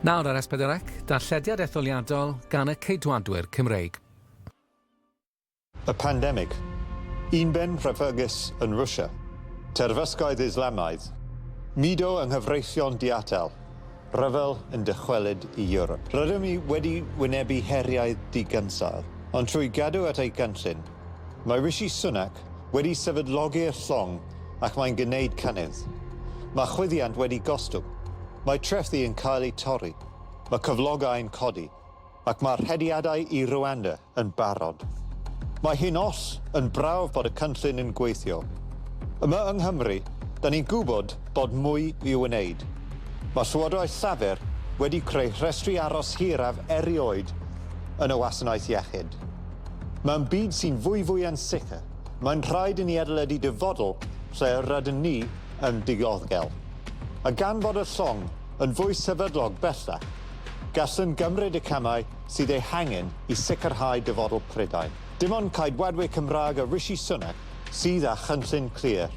Nawr ar Esbydderec, darllediad etholiadol gan y Ceidwadwyr Cymreig. Y pandemig. Un ben rhyfygus yn Rwsia. Terfysgoedd Islamaidd. Mudo yng nghyfreithion diatel. Rhyfel yn dychwelyd i Ewrop. Rydym ni wedi wynebu heriau digynsail, ond trwy gadw at ei gynllun, Mae Rishi Sunak wedi sefydlogi'r llong ac mae'n gwneud cynnydd. Mae chwyddiant wedi gostwng, mae trethi yn cael eu torri, mae cyflogau'n codi ac mae'r hediadau i Rwanda yn barod. Mae hi'n oll yn brawf bod y cynllun yn gweithio. Yma yng Nghymru, da ni'n gwybod bod mwy i'w wneud. Mae Llywodraeth Llafur wedi creu rhestri aros hiraf erioed yn y wasanaeth iechyd. Mewn byd sy'n fwyfwy ansicr, mae'n rhaid i ni adeiladu dyfodol lle yr ydyn ni yn dioddgel. A gan fod y llong yn fwy sefydlog bellach, gallwn gymryd y camau sydd eu hangen i sicrhau dyfodol Prydain. Dim ond Caedwadwyr Cymraeg a Rishi Sunak sydd â chynllun clir.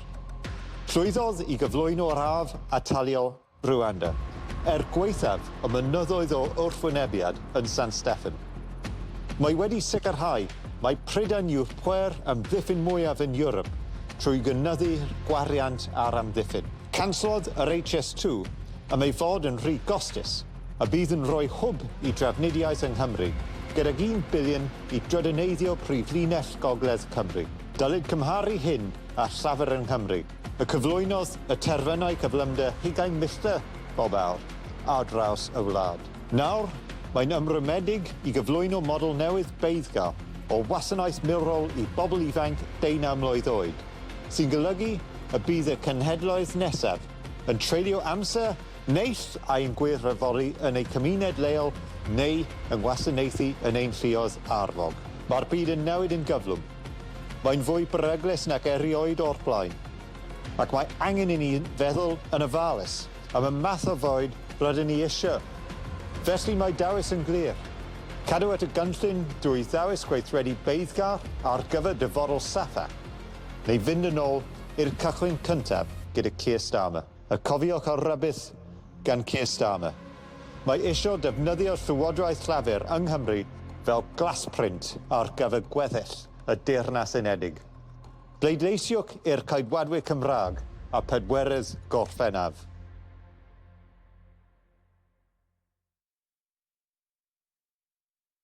Llwyddodd i gyflwyno'r haf ataliol Rwanda, er gwaethaf y mynyddoedd o wrthwynebiad yn San Steffan. Mae wedi sicrhau mai Prydain yw'r pŵer amddiffyn mwyaf yn Ewrop trwy gynyddu'r gwariant ar amddiffyn. Cansodd yr HS2 am ei fod yn rhy gostus a bydd yn rhoi hwb i drafnidiaeth yng Nghymru, gydag un biliwn i drydaneiddio prif linell gogledd Cymru. Dylid cymharu hyn â llafur yng Nghymru. y cyflwynodd y terfynau cyflymder hugain milltir bob awr ar draws y wlad. Nawr, mae'n ymrwymedig i gyflwyno model newydd beiddgar o wasanaeth milwrol i bobl ifainc deunaw mlwydd oed, sy'n golygu y bydd y cenhedloedd nesaf yn treulio amser neis a'u gwirfoddoli yn eu cymuned leol neu yng ngwasanaethu yn ein lluoedd arfog. Mae'r byd yn newid yn gyflym. Mae'n fwy beryglus nac erioed o'r blaen, ac mae angen i ni feddwl yn ofalus am y math o fwyd rydyn ni eisiau. Felly mae dewis yn glir, cadw at y gynllun drwy ddewis gweithredu beiddgar ar gyfer dyfodol saffa, neu fynd yn ôl i'r cychwyn cyntaf gyda Keir Starmer. A cofiwch ar rybudd gan Keir Starmer. Mae isio defnyddio Llywodraeth Llafur yng Nghymru fel glasprint ar gyfer gweddill y Deyrnas Unedig. Bleidleisiwch i'r Ceidwadwyr Cymraeg a phedwerydd Gorffennaf.